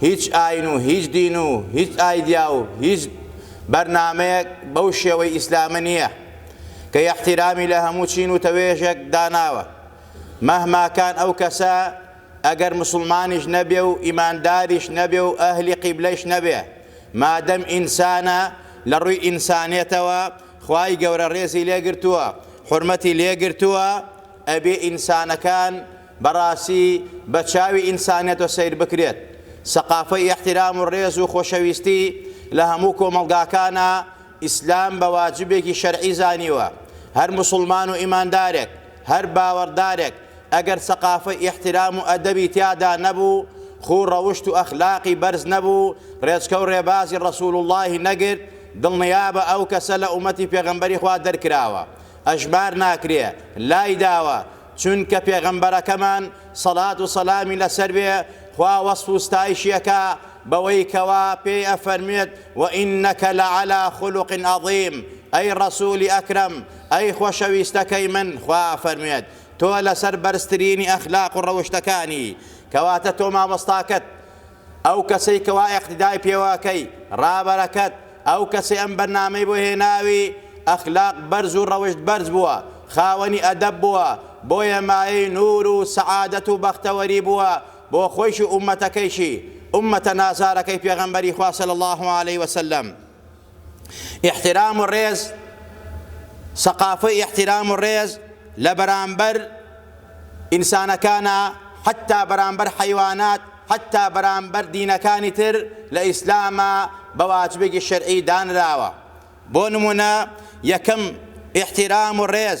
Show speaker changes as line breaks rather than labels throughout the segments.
هیچ ئاین و هیچ دین و هیچ ئایدیا و هیچ بەرنامەیەک بەو شێوەی ئیسلامە نییە کە ئیحتیرامی لە هەموو چین و تەوێژێک داناوە مەهما کان ئەو کەسە ئەگەر موسڵمانیش نەبێ و ئیمانداریش نەبێ و ئەهلی قیبلەیش نەبێ مادەم ئینسانە لە ڕووی ئینسانێتەوە خوای گەورە ڕێزی لێ گرتووە حورمەتی لێ گرتووە ئەبێ ئینسانەکان بەڕاستی بە چاوی ئینسانیەتە سەیر بکرێت سەقافەی ئیحترام و ڕێز و خۆشەویستی لە هەموو کۆمەڵگاکانا ئیسلام بە واجبێکی شەرعی زانیوە هەر موسڵمان و ئیماندارێک هەر باوەڕدارێک ئەگەر سەقافەی ئیحترام و ئەدەبی تیادا نەبوو خوو ڕەوشت و ئەخلاقی بەرز نەبوو ڕێچکە و ڕێبازی ڕەسول اللەی نەگرت دڵنیابە ئەو کەسە لە ئومەتی پێغەمبەری خوا دەرکراوە ئەژمار ناکرێ لای داوە چونکە پێغەمبەرەکەمان، سەڵات و سەلامی لەسەر بێ، خوا وەسف و ستایشی ئەکا بەوەی کەوا پێی ئەفەرموێت، وەئینەکە لەعەلا خولوق عەزیم، ئەی ڕەسولی ئەکرەم، ئەی خۆشەویستەکەی من، خوا ئەفەرموێت، تۆ لەسەر بەرزترینی ئەخلاق و ڕەوشتەکانی، کەواتە تۆ مامۆستاکەت، ئەو کەسەی کەوا ئیقتیدای پێوە ئەکەی ڕابەرەکەت ئەو کەسەی ئەم بەرنامەی بۆ هێناوی ئەخلاق بەرز و ڕەوشت بەرز بووە خاوەنی ئەدەب بووە بۆیە مایەی نور و سەعادەت و بەختەوەری بووە بۆ خۆیش و ئومەتەکەیشی ئومەتە نازارەکەی پێغەمبەری خوا صلی اللە علیە وسلم. ئیحترام و ڕێز، سەقافەی ئیحترام و ڕێز لە بەرامبەر ئینسانەکانا حەتتا بەرامبەر حەیوانات حەتتا بەرامبەر دینەکانی تر لە ئیسلاما بە واجبێکی شەرعی دانراوە بۆ نموونە یەکەم ئیحترام و ڕێز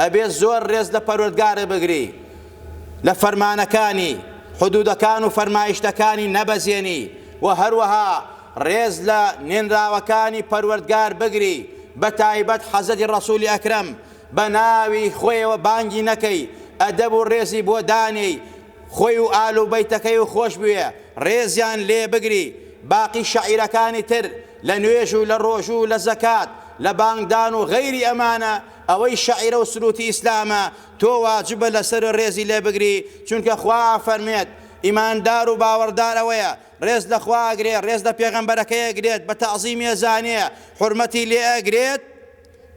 ئەبێ زۆر رێز لە پەروەردگارت بگری لە فەرمانەکانی، حدودەکان و فەرمایشتەکانی نەبەزێنی و هەروەها رێز لە نێنراوەکانی پەروەردگار بگری بە تایبەت حەزرەتی رەسولی ئەکرەم بە ناوی خۆیەوە بانگی نەکەی ئەدەب و رێزی بۆ دانێی خۆی و ئال و بەیتەکەی و خۆش بوێ رێزیان لێ بگری باقی شەعیرەکانی تر لە نوێژ و لە رۆژو و لە زەکات لە بانگدان و غەیری ئەمانە ئەوەی شەعیرە و سرووتی ئیسلامە تۆ واجبە لەسەر و رێزی لێ بگری چونکە خوا ئەفەرموێت، ئیماندار و باوەڕدار ئەوەیە رێز لە خوا ئەگرێ، رێز لە پێغەمبەرەکەی ئەگرێت، بە تەعزیمی ئەزانێ، حورمەتی لێ ئەگرێت،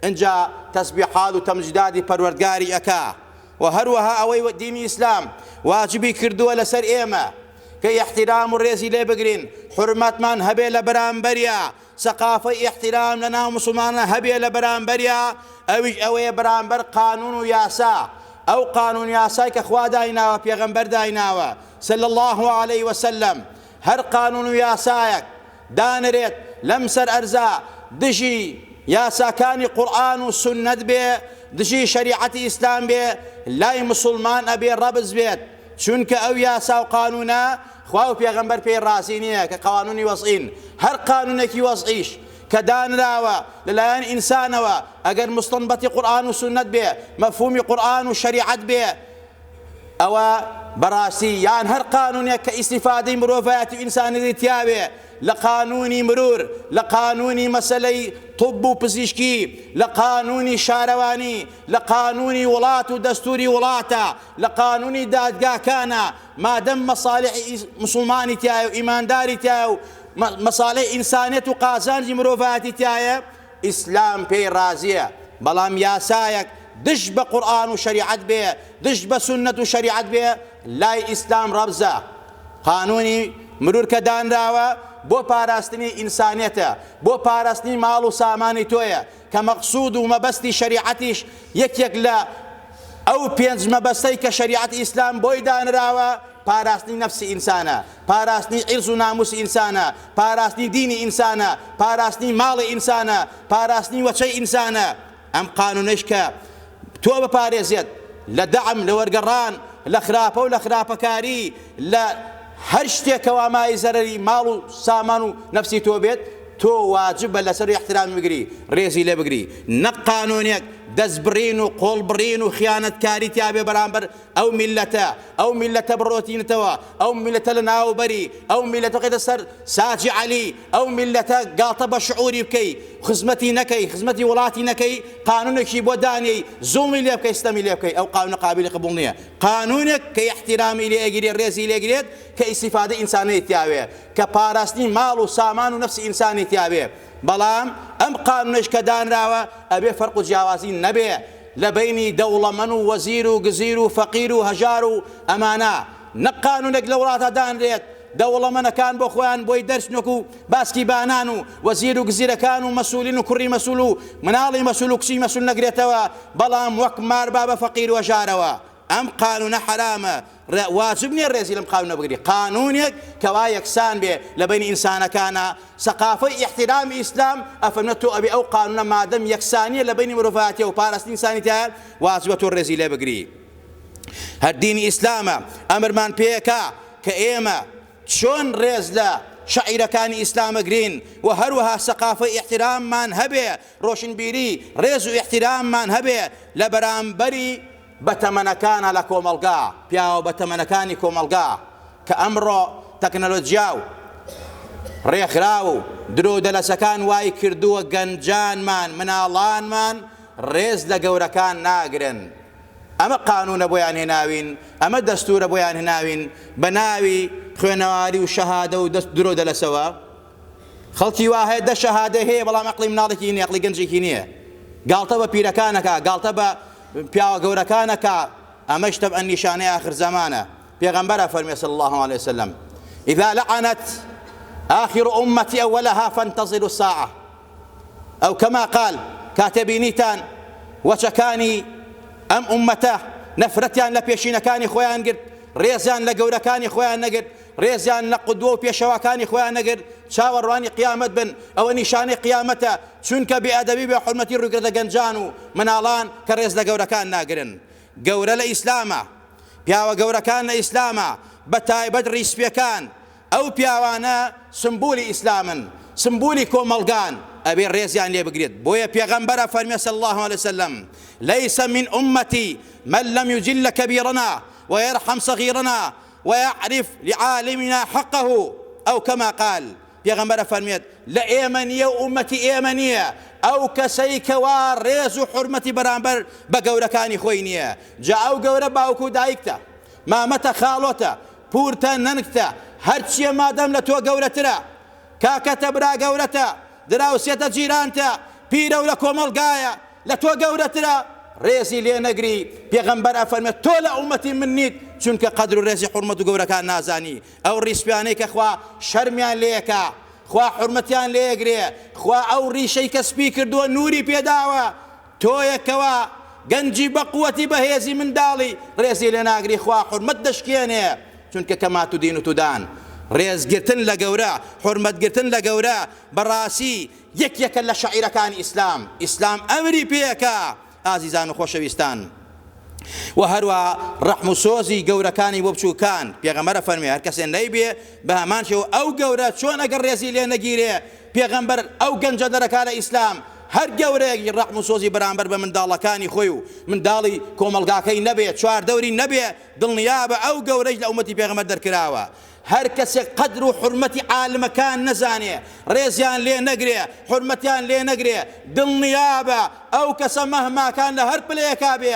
ئینجا تەسبیحات و تەمجیداتی پەروەردگاری ئەکا و هەروەها ئەوەی دینی ئیسلام واجبی کردووە لەسەر ئێمە کە ئیحتیرام و رێزی لێ بگرین، حورمەتمان هەبێ لە بەرامبەریا. سەقافەی ئیحتیرام لە ناو موسڵمانان هەبێ لە بەرامبەریا ئەویش ئەوەیە بەرامبەر قانون و یاسا ئەو قانون یاسای کە خوا دایناوە پێغەمبەر دایناوە صلی اللە علیە وسلم هەر قانون و یاسایەک دانرێت لەم سەر ئەرزا دژی یاساکانی قورئان و سوننەت بێ دژی شەریعەتی ئیسلام بێ لای موسڵمان ئەبێ ڕەبز بێت چونکە ئەو یاسا و قانونە خوا و پێغەمبەر پێی ڕازی نییە کە قوانونی وەزعین، هەر قانونێکی وەزعیش کە دانراوە لەلایەن ئینسانەوە ئەگەر موستەنبەتی قورئان و سوننەت بێ، مەفهومی قورئان و شەریعەت بێ، ئەوە بەڕاستی یان هەر قانونێک کە ئیستیفادەی مرۆڤایەتی و ئینسانیەتی تیا بێ لە قانونی مرور، لە قانونی مەسەلەی طب و پزیشکی، لە قانونی شارەوانی، لە قانونی وڵات و دەستوری وڵاتە، لە قانونی دادگاکانە، مادەم مەسالحی موسڵمانی تیایە و ئیمانداری تیایە و مەسالحی ئینسانیەت و قازانجی مرۆڤایەتی تیایە ئیسلام پێی ڕازیە بەڵام یاسایەک دژ بە قورئان و شەریعەت بێ دژ بە سوننەت و شەریعەت بێ لای ئیسلام ڕەبزە قانونی مرور کە دانراوە بۆ پاراستنی ئینسانیەتە بۆ پاراستنی ماڵ و سامانی تۆیە کە مەقسود و مەبەستی شەریعەتیش یەکێک لە ئەو پێنج مەبەستەی کە شەریعەتی ئیسلام بۆی دانراوە پاراستنی نەفسی ئینسانە، پاراستنی عیرز و ناموسی ئینسانە، پاراستنی دینی ئینسانە، پاراستنی ماڵی ئینسانە، پاراستنی وەچەی ئینسانە. ئەم قانونەیش کە تۆ بپارێزێت لە دەعم، لە وەرگەڕان، لە خراپە و لە خراپەکاری، لە هەر شتێکەوە مای زەرەری ماڵ و سامان و نەفسی تۆ بێت، تۆ واجبە لەسەر ئیحترامی بگری، ڕێزی لێ بگری، نەک قانوونێک دەستبڕین و قۆڵبڕین و خیانەتکاری تیا بێ بەرامبەر ئەو میللەتە، ئەو میللەتە بڕۆتینەتەوە، ئەو میللەتە لەناوبەری، ئەو میللەتە بخەیتە سەر ساجی عەلی، ئەو میللەتە گاڵتە بە شعووری بکەی، خزمەتی نەکەی، خزمەتی وڵاتی نەکەی، قانوونێکی بۆ دانێی، زوڵمی لێ بکەی، ستەمی لێ بکەی، ئەو قانوونە قابیلی قبووڵ نییە. قانونێک کە ئیحتیرامی لێ ئەگیرێ ڕێزی لێ گرێت کە ئیستیفادەی ئینسانەی تیا بێ کە پاراستنی ماڵ و سامان و نەفسی ئینسانی تیا بێ بەڵام ئەم قانونەیش کە دانراوە ئەبێ فەرق و جیاوازی نەبێ لە بەینی دەوڵەمەن و وەزیر و گزیر و فەقیر و هەژار و ئەمانە نەک قانونێک لە وڵاتە دانرێت دەوڵەمەنەکان بۆ خۆیان بۆی دەرچنۆک و باسکی بانان و وەزیر و گزیرەکان و مەسولین و کوڕی مەسول و مناڵی مەسول و کچی مەسول نەگرێتەوە بەڵام وەک مار با بە فەقیر وەژارەوە ئەم قانونە حەرامە واجب نیە ڕێزی لەم قانونە بگری قانونێک کەوا یەکسان بێ لە بین ئینسانەکانە سەقافەی احترام ئیسلام ئەفەرمە تۆ ئەبێ ئەو قانونە مادەم یەکسانیە لە بینی مرۆڤاتیە و پاراستنی ئینسانی تایە واجبە تۆ ڕێزی لێ بگری هەر دینی ئیسلامە ئەمرمان پێکا کە ئێمە چۆن ڕێز لە شاعیرەکانی ئیسلام ئەگرین و هەروەها سەقافەی ئیحتیراممان هەبێ، ڕۆشنبیری ڕێز و ئیحتیراممان هەبێ لە بەرامبەری بەتەمەنەکانە لە کۆمەڵگا، پیاوە بەتەمەنەکانی کۆمەڵگا کە ئەمڕۆ تەکنەلۆجیا و ڕێکخراو و درۆو دەلەسەکان وای کردووە گەنجانمان، مناڵانمان ڕێز لە گەورەکان ناگرن. ئەمە قانونە بۆیان هێناوین ئەمە دەستورە بۆیان هناوین بەناوی خوێنەواری و شەهادە و دەست درۆ دەلەسەوە خەڵکی وا هەیە دە شەهادە هەیە بەڵام ئەقلی مناڵێکی نیە ئەقلی گەنجێکی نییە گاڵتە بە پیرەکانەکە گاڵتە بە پیاوە گەورەکانەکە ئەمە شتە ئە نیشانەی آخر زمانە پێغەمبەرە فەرمی صلی الله عليه وسلم إذا لعنت آخر أمتي أولها فانتظروا الساعة ئەو کەما قال کاتێ بینیتان وەچەکانی ئەم ئوممەتە نەفرەتیان لە پێشینەکانی خۆیان گرت ڕێزیان لە گەورەکانی خۆیان نەگرت ڕێزیان لە قودوە و پێشەواکانی خۆیان نەگرت چاوەڕوانی قیامەت بن ئەوە نیشانەی قیامەتە چونکە بێ ئەدەبی بێ حورمەتی ڕویکردە گەنجان و مناڵان کە ڕێز لە گەورەکان ناگرن گەورە لە ئیسلامە پیاوە گەورەکان لە ئیسلامە بە تایبەت ڕیسپیەکان ئەو پیاوانە سمبولی ئیسلامن سمبولی کۆمەڵگان ئەبێ ڕێزیان لێ بگرێت بۆیە پێغەمبەر ئەفەرمێ صلی اللە علیە وسلم لیس من امتی من لم یجل کبیرنا ویرحم صغیرنا ویعرف لعالمنا حقه او کما قال پێغەمبەر ئەفەرمێت لە ئێمە نییە و ئومەتی ئێمە نییە ئەو کەسەی کەوا ڕێز و حرمەتی بەرامبەر بە گەورەکانی خۆی نییە جا ئەو گەورە باوک و دایکتە مامەتە خاڵۆتە پورتە نەنکتە هەرچیە مادەم لە تۆ گەورەترە کاکەتە برا گەورەتە دراوسێتە جیرانتە پیرەو لە کۆمەڵگایە لە تۆ گەورەترە ڕێزی لێ نەگری پێغەمبەر ئەفەرمێت تۆ لە ئومەتی من نیت چونکە قەدر و ڕێزی حورمەت و گەورەکان نازانی ئەو ڕیسپیانەی کە خوا شەرمیان لێکا خوا حورمەتیان لێگرێ خوا ئەو ڕیشەی کە سپی کردووە نوری پێداوە تۆیەکەوە گەنجی بەقوەتی بەهێزی منداڵی ڕێزی لێناگری خوا حورمەت دەشکێنێ چونکە کەمات و دین و تودان ڕێز گرتن لە گەورە حورمەت گرتن لە گەورە بەڕاسی یەکێکە لە شەعیرەکانی ئیسلام ئیسلام ئەمری پێکا ئازیزان و خۆشەویستان وە هەروا ڕەحم و سۆزی گەورەکانی بۆ بچوکان پێغەمبەر ئەفەرموێ هەرکەسێ نەیبێ بەهەمان شێوە ئەو گەورە چۆن ئەگەر ڕێزی لێ نەگیرێ پێغەمبەر ئەو گەنجە دەرەکە لە ئیسلام، هەر گەورەیەک ڕەحم و سۆزی بەرامبەر بە منداڵەکانی خۆی و منداڵی کۆمەڵگاکەی نەبێ، چواردەوری نەبێ، دڵنیابە ئەو گەورەیش لە ئومەتی پێغەمبەر دەرکراوە. هەر کەسێک قەدر و حورمەتی عالمەکان نەزانێ، ڕێزیان لێ نەگرێ، حورمەتیان لێ نەگرێ، دڵنیابە ئەو کەسە مەهماکان لە هەر پلەیەکا بێ،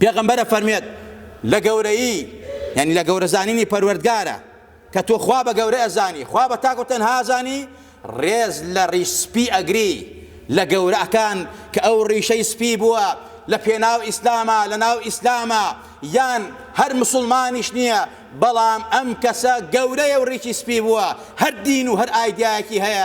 پێغەمبەر ئەفەرموێت لە گەورەیی یانی لە گەورە زانینی پەروەردگارە کە تۆ خوا بە گەورە ئەزانی خوا بە تاک و تەنها ئەزانی ڕێز لە ڕیش سپی ئەگری لە گەورەکان کە ئەو ڕیشەی سپی بووە لە پێناو ئیسلامە لە ناو ئیسلامە یان هەر مسلمانیش نییە بەڵام ئەم کەسە گەورەیە و ڕیشی سپی بووە هەر دین و هەر ئایدایەکی هەیە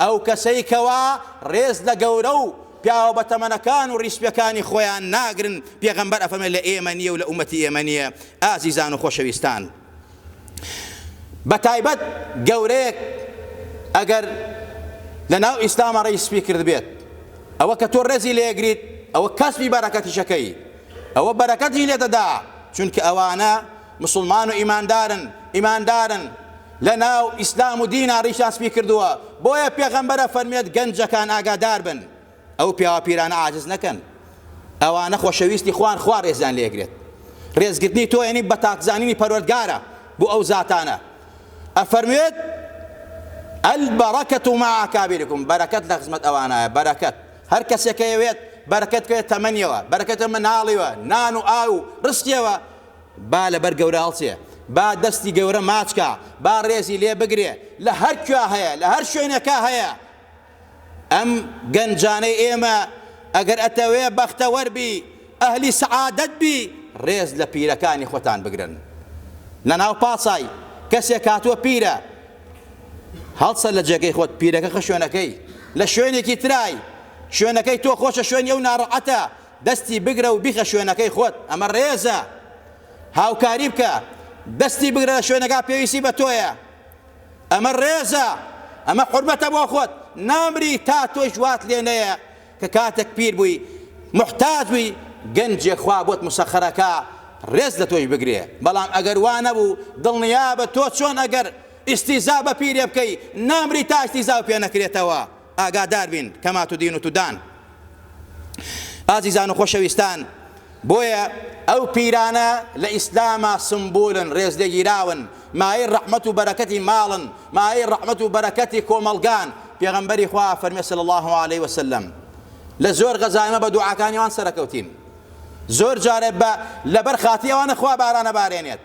ئەو کەسەی کەوا ڕێز لە گەورە و پیاوە بەتەمەنەکان و ڕیسپێکانی خۆیان ناگرن، پێغەمبەر ئەفەرمێت لە ئێمە نییە و لە ئومەتی ئێمە نییە، ئازیزان و خۆشەویستان بەتایبەت گەورەیەک ئەگەر لە ناو ئیسلامە ڕیسپی کردبێت ئەوە کە تۆ ڕێزی لێگریت ئەوە کەسبی بەرەکەتیشەکەی ئەوە بەرەکەتی لێدەدا چونکە ئەوانە موسڵمان و ئیماندارن ئیماندارن لەناو ئیسلام و دینا ڕیشیان سپی کردووە بۆیە پێغەمبەر ئەفەرموێت گەنجەکان ئاگادار بن ئەو پیاوە پیرانە عاجز نەکەن ئەوانە خۆشەویستی خوان خوا ڕێزیان لێگرێت ڕێزگرتنی تۆ یعنی بەتاک زانینی پەروەردگارە بۆ ئەو زاتانە ئەفەرموێت البركة مع أكابركم بركة لە خزمەت ئەوانایە بەرەکەت هەر کەسێکە یەوێت بەرەکەت کرێت تەمەنیەوە بەرەکەتە مناڵیوە نان و ئاو و ڕستیەوە با لەبەر گەورە هەڵچێ، با دەستی گەورە ماچ کا، با ڕێزی لێ بگرێ، لە هەر کوێ هەیە، لە هەر شوێنێکا هەیە. ئەم گەنجانەی ئێمە، ئەگەر ئەتەوێ بەختەوەر بی، ئەهلی سەعادەت بی، ڕێز لە پیرەکانی خۆتان بگرن. لەناو پاسای، کەسێک هاتووە پیرە، هەڵسە لە جێگەی خۆت، پیرەکە خە شوێنەکەی، لە شوێنێکی ترای، شوێنەکەی تۆ خۆشە شوێنی ئەو ناڕەعەتە، دەستی بگرە و بیخە شوێنەکەی خۆت ئەمە ڕێزە هاوکاری بکە دەستی بگرە لە شوێنەکە پێویستی بە تۆیە ئەمە ڕێزە ئەمە حورمەتە بۆ خۆت نامری تا تۆش وات لێ نەیە کە کاتێک پیر بووی محتاج بووی گەنجێ خوا بۆت مسەخەرەکە ڕێز لە تۆی بگرێ بەڵام ئەگەر وا نەبوو دڵنیابە تۆ چۆن ئەگەر ئیستیزا بە پیرێ بکەی نامری تا ئیستیزا پێ نەکرێتەوە ئاگادار بین کما تدین و تدان ئازیزان و خۆشەویستان بۆیە ئەو پیرانە لە ئیسلاما سمبولن ڕێزلێگیراون مایەی ڕەحمەت و بەرەکەتی ماڵن مایەی ڕەحمەت و بەرەکەتی کۆمەڵگان پێغەمبەری خوا فەرمی صلی الله علیه وسلم لە زۆر غەزایمە بە دوعاکانی وان سەرکەوتین زۆر جارێ بە لەبەر خاتی ئەوانە خوا بارانە بارێنێت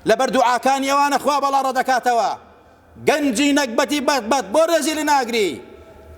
لەبەر دوعاکانی ئەوانە خوا بەڵا ڕەدەکاتەوە گەنجی نەگبەتی بەت بەت بۆ رێزی لناگری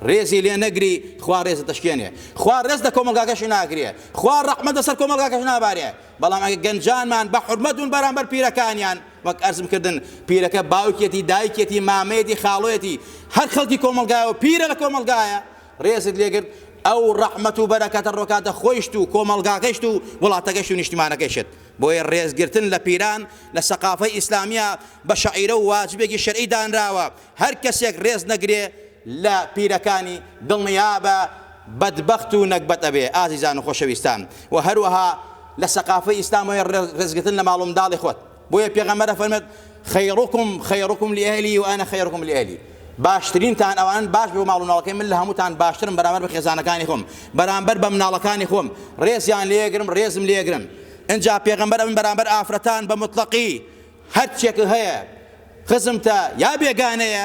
رێزی لێ نەگری خوا رێزت دەشکێنێ خوا رێز لە کۆمەڵگاکەشی ناگرێ خوا رەحمەت لەسەر کۆمەڵگاکەش نابارێ بەڵام ئەگەر گەنجانمان بە حورمەت بوون بەرامبەر پیرەکانیان وەک ئەرزم کردن پیرەکە باوکیەتی دایکیەتی مامەیەتی خاڵۆیەتی هەر خەڵکی کۆمەڵگایە و پیرە لە کۆمەڵگایە رێزت لێگرت ئەو رەحمەت و بەرەکەتە ڕۆکاتە خۆیشت و کۆمەڵگاکەشت و وڵاتەکەشت و نیشتمانەکەشت بۆیە ڕێز گرتن لە پیران لە سەقافەی ئیسلامییا بە شەعیرە و واجبێکی شەرعی دانراوە، هەر کەسێک ڕێز نەگرێ لە پیرەکانی دڵنیابە بەدبەخت و نەگبەت ئەبێ. ئازیزان و خۆشەویستان و هەروەها لە سەقافەی ئیسلامەوەیە ڕێز گرتن لە ماڵ و منداڵی خۆت، بۆیە پێغەمبەر ئەفەرموێت، خیرکم خیرکم لئهلی و انا خیرکم لئهلی، باشترینتان ئەوانەن باش بۆ ماڵ و ماڵەکەی، من لە هەمووتان باشترم بەرامبەر بە خێزانەکانی خۆم، بەرامبەر بە مناڵەکانی خۆم، ڕێزیان لێگرم ڕێزم لێگرن، ئنجا پێغەمبەر ئەمن بەرامبەر ئافرەتان بە موتڵەقی هەرچیەک هەیە خزمتە یا بێگانەیە،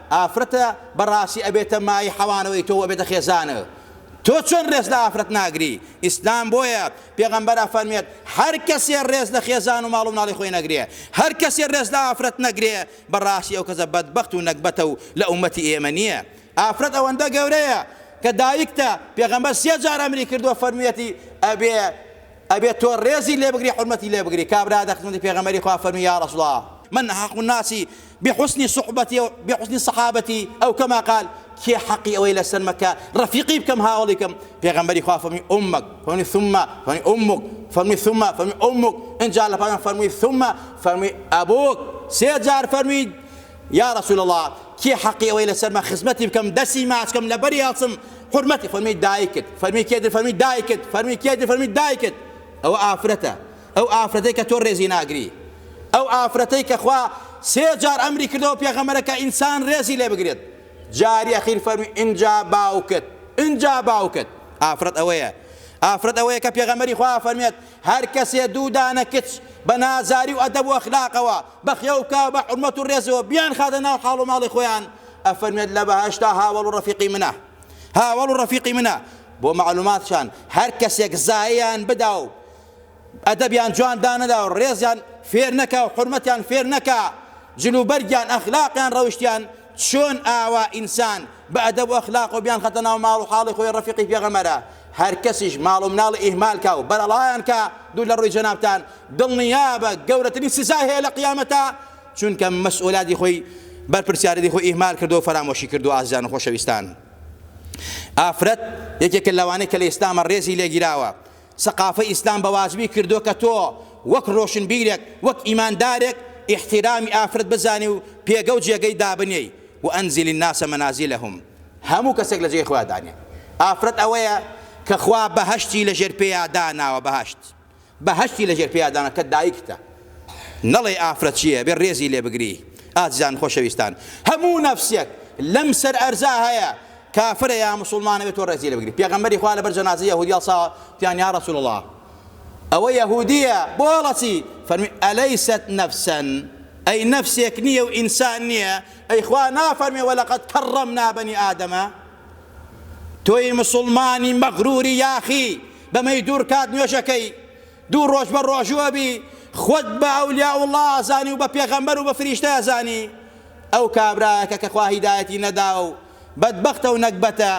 ئافرەتە بەڕاستی ئەبێتە مایەی حەوانەوەی تۆ و ئەبێتە خێزانە تۆ چۆن ڕێز لە ئافرەت ناگری ئیسلام بۆیە پێغەمبەر ئەفەرموێت هەر کەسێ ڕێز لە خێزان و ماڵ و مناڵی خۆی نەگرێ هەر کەسێ ڕێز لە ئافرەت نەگرێ بەڕاستی ئەو کەسە بەدبەخت و نەگبەتە و لە ئومەتی ئێمە نییە ئافرەت ئەوەندە گەورەیە کە دایکتە پێغەمبەر سێ جار ئەمری کردووە فەرموویەتی ئەبێ ئەبێت تۆ ڕێزی لێ بگری حورمەتی لێ بگری کابرا دە خزمەتی پێغەمبەری خوا فەرموی یا رسول اللە من احق الناس بحسن صحبتی بحسن صحابتی او کما قال کێ حەقی ئەوەی لەسەرمە کە ڕەفیقی بکەم هاوڵی کەم پێغەمبەری خوا فەرمی امک فەرمی ثم فەرمی امک فەرمی ثم فەرمی امک انجا لە پایان فەرمی ثم فەرمی ابوک سێ جار فەرمی یا رسول اللە کێ حەقی ئەوەی لەسەرمە خزمەتی بکەم دەستی ماچ کەم لەبەری ئەڵسم حورمەتی فەرمی دایکت فەرمی کێ فەرمی دایکت فەرمی کێ فەرمی دایکت ئەوە ئافرەتە ئەو ئافرەتەی کە تۆ ڕێزی ناگری ئەو ئافرەتەی کە خوا سێ جار ئەمری کردەوە پێغەمەرەکە ئینسان ڕێزی لێ بگرێت جاری ئەخیر فەرمی ئینجا باوکت ئینجا باوکت ئافرەت ئەوەیە ئافرەت ئەوەیە کە پێغەمەری خوا فەرمێت هەر کەسێ دوو دانە کچ بە نازاری و ئەدەب و ئەخلاقەوە بە خێوکاو بە حورمەت و ڕێزەوە بیانخاتە ناو حاڵ و ماڵی خۆیان ئەفەرموێت لە بەهەشتا هاوەڵ و ڕەفیقی منە هاوەڵ و ڕەفیقی منە بۆ مەعلوماتشان هەر کەسێک زایەیان بدا و ئەدەبیان جوان دانەدا و ڕێزیان فێر نەکا و حورمەتیان فێر نەکا جلوبەرگیان ئەخلاقیان ڕەوشتیان چۆن ئاوا ئینسان بە ئەدەب و ئەخلاقەوە بیان خەتە ناو ماڵ و حاڵی خۆی ڕەفیقی پێغەمبەرە هەر کەسیش ماڵ و مناڵی ئیهمال کا و بەرەڵایان کا دوور لە ڕووی جەنابتان دڵنیابە گەورەترین سزای هەیە لە قیامەتا چونکە مەسئولاتی خۆی بەرپرسیارێتی خۆی ئیهمال کردوە و فەرامۆشی کردوە ئازیزان و خۆشەویستان ئافرەت یەکێکە لەوانەی کە لە ئیسلامە ڕێزی لێگیراوە سەقافەی ئیسلام بە واجبی کردووە کە تۆ وەک ڕۆشنبیرێک، وەک ئیماندارێک ئیحتیرامی ئافرەت بزانی و پێگە و جێگەی دابنێی، وانزل الناس منازلهم، هەموو کەسێک لە جێی خۆیا دانێ. ئافرەت ئەوەیە کە خوا بەهەشتی لە ژێر پێیا داناوە، بەهەشت، بەهەشتی لە ژێر پێیا داناوە کە دایکتە. نەڵێی ئافرەت چییە ئەبێ ڕێزی لێ بگری. ئازیزان و خۆشەویستان، هەموو نەفسێک لەم سەر ئەرزا هەیە کافرە یا موسوڵمانە بێت تۆ ڕێزی لێ بگری پێغەمبەری خوا لەبەر جەنازەی یەهودی هەڵساوە تیان یا رسول اللە ئەوە یەهودیە بۆ هەڵەسی فەرمی ئەلیست نفسا ئەی نفسێک نییە و ئینسان نییە ئەی خوا نافەرمێ وەلەقەد کەڕەمنا بەنی ئادەمە تۆی مسلمانی مەغروری یاخی بەمەی دوور کات نوێژەکەی دوو ڕۆژ بە ڕۆژوە بی خۆت بە ئەولیا وڵا زانی و بە پێغەمبەر و بە فریشتە زانی ئەو کابراەکە کە خوا هیدایەتی نەدا و بەدبەختە و نەگبەتە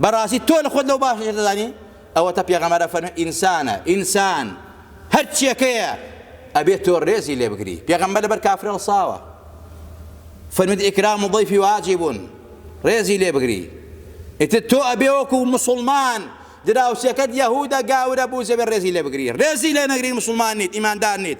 بەڕاستی تۆ لە خۆت لەو باشتر دەزانی ئەوەتە پێغەمبەر ئەفەرموێ ئینسانە ئینسان هەر چیەکەیە ئەبێت تۆ ڕێزی لێ بگری پێغەمبەر لەبەر کافر هەڵساوە فرمد ئیکرام و ضیفی واجبون ڕێزی لێ بگری ئیتر تۆ ئەبێ وەکو مسلمان دراوسێکەت یەهودە گاورە بوو زەبێ ڕێزی لێ بگری ڕێزی لێ نەگری مسلمان نیت ئیماندار نیت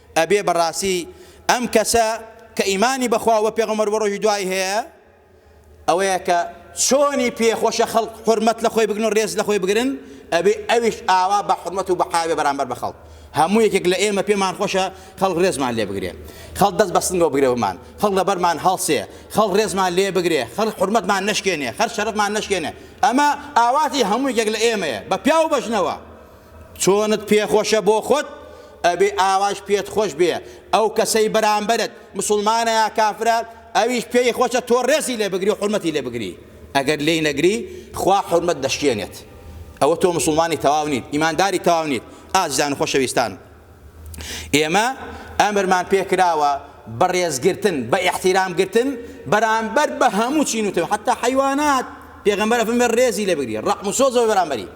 ئەبێ بەڕاستی ئەم کەسە کە ئیمانی بەخوا و بەپێغەمبەر وڕۆژی دوای هەیە ئەوەیە کە چۆنی پێ خۆشە خەڵک حورمەت لەخۆی بگرن و ڕێز لەخۆی بگرن ئەبێ ئەویش ئاوا بە حورمەت و بەحاوێ بەرامبەر بە خەڵک هەموو یەکێک لە ئێمە پێمان خۆشە خەڵک ڕێزمان لێ بگرێ خەڵک دەست بەستنگەوە بگرێ بمان خەڵک لەبەرمان هەڵسێ خەڵک ڕێزمان لێ بگرێ خەڵک حورمەتمان نەشکێنێ خەر شەرەفمان نەشکێنێ ئەمە ئاواتی هەموو یەکێک لە ئێمەیە بە پیاو بەژنەوە چۆنت پێ خۆشە بۆ خۆت ئەبێ ئاواش پێت خۆش بێ ئەو کەسەی بەرامبەرت مسوڵمانە یا کافرە ئەویش پێی خۆشە تۆ ڕێزی لێ بگری و حورمەتی لێ بگری ئەگەر لێی نەگری خوا حورمەت دەشکێنێت ئەوە تۆ مسوڵمانی تەواو نیت ئیمانداری تەواو نیت ئازیزان و خۆشەویستان ئێمە ئەمرمان پێ کراوە بەڕێزگرتن بە ئیحتیرام گرتن بەرامبەر بە هەموو چین و تەوێ حتا حیوانات پێغەمبەر فەرموێ ڕێزی لێ بگری ڕەحم و سۆزەوە بەرامبەری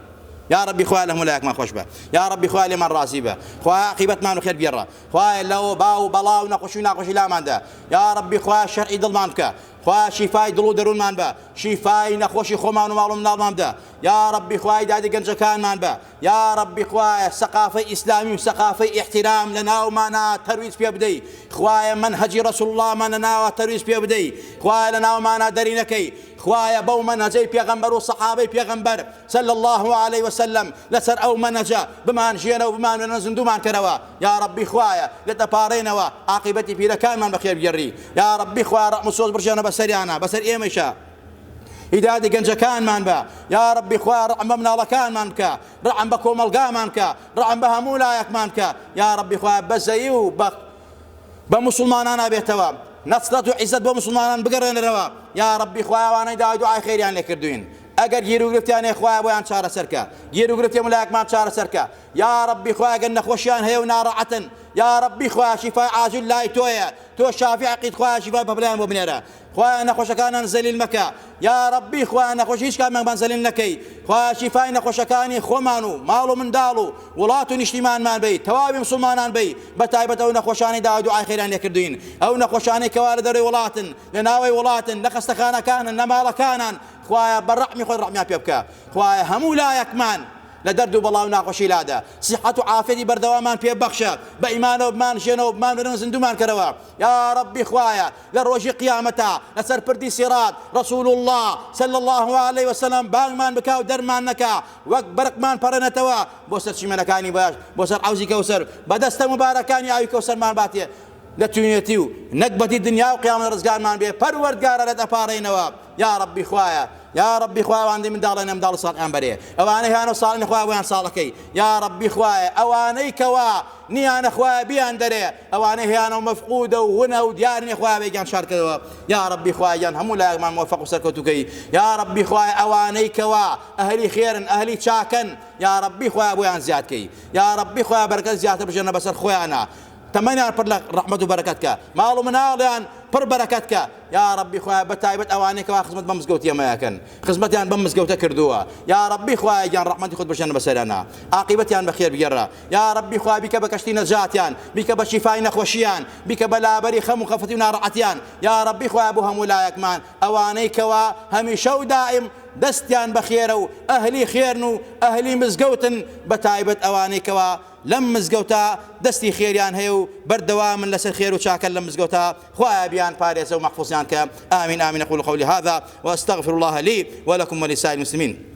یا ربی خوایە لە هەموو لایەکمان خۆش بە یا ربی خوایە لێمان ڕازی بە خوایە عاقیبەتمان خێر بگێڕە خوایە لەوە باو و بەڵا و نەخۆشی و ناخۆشی لاماندا یا ربی خوایە شەرعی دڵمان بکە خوایە شیفای دڵ و دەروونمان بە شیفای نەخۆشی خۆمان و ماڵ و مناڵمان بدە یا ربی خوای دادی گەنجەکانمان بە یا ربی خوایە سەقافەی ئیسلامی و سەقافەی ئیحتیرام لە ناومانا تەرویج پێ بدەی خوایە منهجی رسول اللهمان لە ناوە تەرویج پێ بدەی خوایە لە ناومانا دەری نەکەی خوایە بەو منهجەی پێغەمبەر و سەحابەی پێغەمبەر صلی اللە علیە وسلم لەسەر ئەو مەنەجە بمانژیەنە و بمانوێنە زندومان کەرەوە یارەبی خوایە لێت دەپاڕێینەوە ئاقیبەتی پیرەکانمان بەخێر بگێڕی یارەبی خوایە ڕەعم و سۆز بڕژێنە بەسەریانا بەسەر ئێمەیشا هیدایەتی گەنجەکانمان بە یارەبی خوایە ڕەعم بە مناڵەکانمان بکە ڕەعم بە کۆمەڵگامان بکە ڕەعم بە هەموو لایەکمان بکە یارەبی خوایە بەزەیی و بە بە موسڵمانانا بێتەوە نەسرەت و عیزەت بۆ موسڵمانان بگەڕێنەرەوە یارەبی خوایە وانەی داوای دوعای خێریان لێ کردوین ئەگەر گیروگرفتیان هەیە خوایە بۆیان چارەسەر کە گیروگرفتی ملایەکمان چارەسەر کە یا ربی خوایە ئەگەر نەخۆشیان هەیە و ناڕەعەتن یا ربی خوایە شیفای عاجل لای تۆیە تۆ شافی عقید خوایە شیفای بەبلایان بۆ بنێرە خوایە نەخۆشەکانان زەلیل مەکە یا ربی خوایە نەخۆش هیچ کامیانمان زەلیل نەکەی خوایە شیفای نەخۆشەکانی خۆمان و ماڵ و منداڵ و وڵات و نیشتیمانمان بی تەواوی مسلمانان بی بە تایبەت ئەو نەخۆشانی داوا دوعای خێران لێکردوین ئەو نەخۆشانەی کەوا لە دەرەوەی وڵاتن لە ناوەی وڵاتن لە خەستەخانەکانن لە ماڵەکانن خوایە بە ڕەحمی خۆت ڕەحمیان پێ بکە خوایە هەموو لایەکمان لە دەرد و بەڵا و ناخۆشی لادە سیحەت و عافیەتی بەردەوامان پێ بەخشە بە ئیمانەوە بمان ژێنەوە بمان بەرەنگ زیندوومان کەرەوە یاڕەبی خوایە لە ڕۆژی قیامەتا لەسەر پردی سیڕات ڕەسول اللە صلی اللە علیە وسلم بانگمان بکا و دەرمان نەکا وەک بەرقمان پەڕێنێتەوە بۆ سەر چیمەنەکانی باش بۆ سەر عەوزی کەوسەر بە دەستە موبارەکانی ئاوی کەوسەرمان باتێ لە تونێتی و نەگبەتی دنیا و قیامەت ڕزگارمان بێ پەروەردگارە لێت ئەپاڕێینەوە. یاڕەبی خوایە یاڕەبی خوا ئەوانەی منداڵێ نەمداڵ و ساڵحیان بەرێ ئەوانەی هانە و ساڵن خوا بۆیان ساڵەکەی یاڕەبی خوایە ئەوانەی کەوا نیانە خوایە بیان دەرێ ئەوانەی هیانە و مەفقودە و ونە و دیار نیە خوایە بێگیان شارکەوە یاڕەبی خوایان هەموو لایەکمان موفق و سەرکەوتوکەی یاڕەبی خوایە ئەوانەی کەوا ئەهلی خێرن ئەهلی چاکەن یاڕەبی خوایە بۆیان زیادکەی یاڕەبی خوایە بەرەکەت زیاتر بژێنە بەسەر خۆیانە تەمەنیان پڕ لە ڕەحمەت و بەرەکەت کە، ماڵ و مناڵیان پڕ بەرەکەت کە، یاڕەبی خوایە بە تایبەت ئەوانەی کەوا خزمەت بەم زگەوتی ئەمە ئەکەن خزمەتیان بەم مزگەوتە کردووە یاڕەبی خوایە گیان ڕەحمەتی خۆت بەژێنە بەسەریانا ئاقیبەتیان بە خێر بگێڕە یاڕەبی خوا بیکە بە کەشتی نەجاتیان بیکە بە شیفای نەخۆشیان بیکە بە لابەری خەم و خەفەتی و ناڕەحەتیان یاڕەبی خوایە بۆ هەموو لایەکمان ئەوانەی کەوا هەمیشە و دائیم دەستیان بەخێرە و ئەهلی خێرن و ئەهلی مزگەوتن بە تایبەت ئەوانەی کەوا لەم مزگەوتە دەستی خێریان هەیە و بەردەوامن لەسەر خێر و چاکە لەم مزگەوتە خوایە بیان پارێزە و مەحفوزیان کە آمین آمین اقول قولی هذا واستغفر الله لی ولکم ولسائر المسلمین.